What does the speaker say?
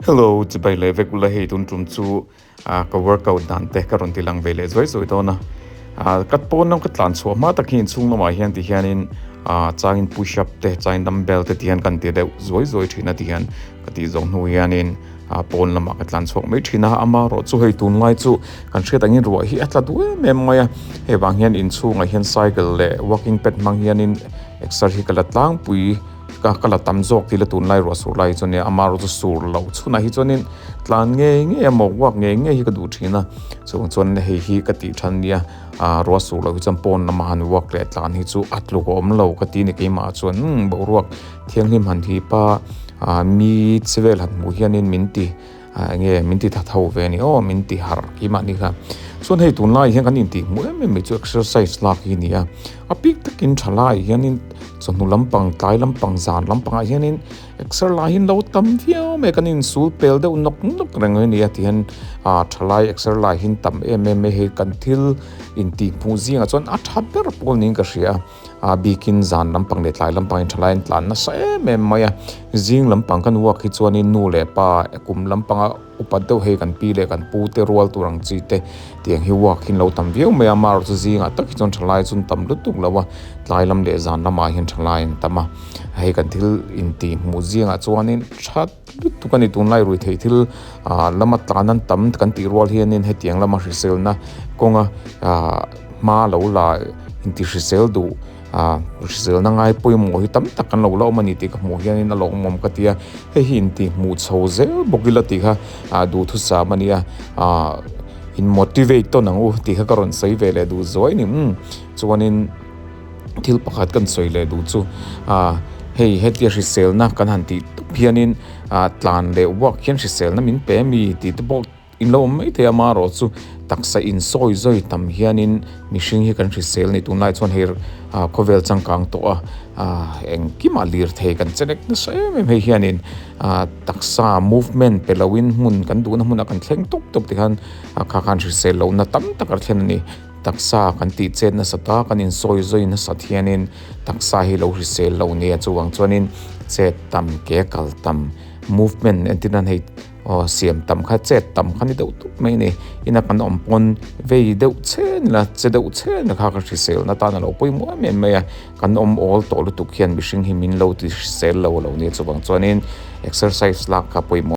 Hello, chibai leh vek ula hei tun tum chu a ka workout dan te ka rawn ti lang ve leh zuai zuai dawn a a ka pawn lam ka tlan chhuah hma tak hian chhung lamah hian ti hian in a changin push up te changin dumbbell te ti hian kan ti deuh zuai zuai thin a ti hian ka tih zawk hnu hian in a pawn lamah ka tlan chhuak mai thin a ama rawh chu hei tun lai chu kan hriat angin ruah hi a tla duem em mai a hei vang hian in chhungah hian cycle leh walking pad hmang hian in exer hi ka la tlangpui. Ka ka la tam zawk tih la tunlai ruahsur lai hi chuan nia, ama erawh chu sur loh chhunah hi chuanin tlan ngei ngei a, mawh uak ngei ngei hi ka duh thin a, chuvang chuan hei hi ka tih than nia, aah ruah sur loh hi chuan pawn lamah han uak leh tlan hi chu a tluk a awm lo ka ti a ni, keimah chuan umm boruak thianghlim han thipa aah mi che vel han hmuh hianin min ti. A enge min ti that ho ve a ni aw min ti harh khi mah ni kha. Chuan hei tun lai hian kan in tih hmuh em em mai chu exercise lak hi a ni a. A pik takin tha laiah hianin chawhnu lampang tlai lampang zan lampangah hianin exer lai hi an lo tam viau mai a kan insul pel deuh nawk nawk reng mai a ni a tihian a tha lai exer lai hi an tam em em mai hei kan thil in tih hmuh zingah chuan a tha ber pawl niin ka hria. a bikin zan lampang leh tlai lampangin tha laiin tlan nasa em em mai a zing lampang kan uak hi chuanin nu leh pa kum lampanga upat deuh hei kan pi leh kan pu te rual tur ang chi te tiang hi uak hi an lo tam viau mai a amaherawh chu zingah tak hi chuan tha lai chu an tam lutuk lo a tlai lam leh zan lamah hian tha lai an tam a hei kan thil intih hmuh zingah chuanin tha-- lutuk a ni tunlai rui theih thil ah lama tlan an tam kan tih rual hianin hetiang lama hriselna kawnga ah hma lo la intihrisel duh ah hriselna ngai pawimawh hi tam tak kan lo la awm a ni tih ka hmuh hianin a lo awm awm ka tia hei hi intihhmuh chho zel bawk ila tih kha ah duhthusam a ni a ah in motivate tawn ang u tih kha ka rawn sawi ve leh duh zuai a ni umm chuanin. thil pakhat kan sawi leh duh chu ah hei hetia hriselna kan han tih dup hianin ah tlan leh vuak hian hriselna min pe a mi tih te pawh in lo awm maithei a amarawh chu taksa insawi zawi tam hianin mihring hi kan hrisel a nih tûn lai chuan hei ah khawvel changkang tawh a ah engkimah lirthei kan che nek nasa em em hei hianin ah taksa movement pe loin hmun kan duhna hmuna kan thleng tawp tawp te khan ah kha khan hrisel lohna tam tak a thlen a ni. Taksa kan tih chet nasat a, kan insawi zawi nasat hianin taksa hi lo hrisel lo nia, chuvang chuanin chet tam ke kal tam movement entin a nei aw siam tam kha chet tam kha ni deuh deuh mai a ni, ina kan awm pawn vei deuh che nila che deuh che nila kha ka hrisel atan a lo pawimawh em em mai a, kan awm awl tawh lutuk hian mihring hi min lo ti hrisel lo a lo nia chuvang chuanin exercise lak kha pawimawh.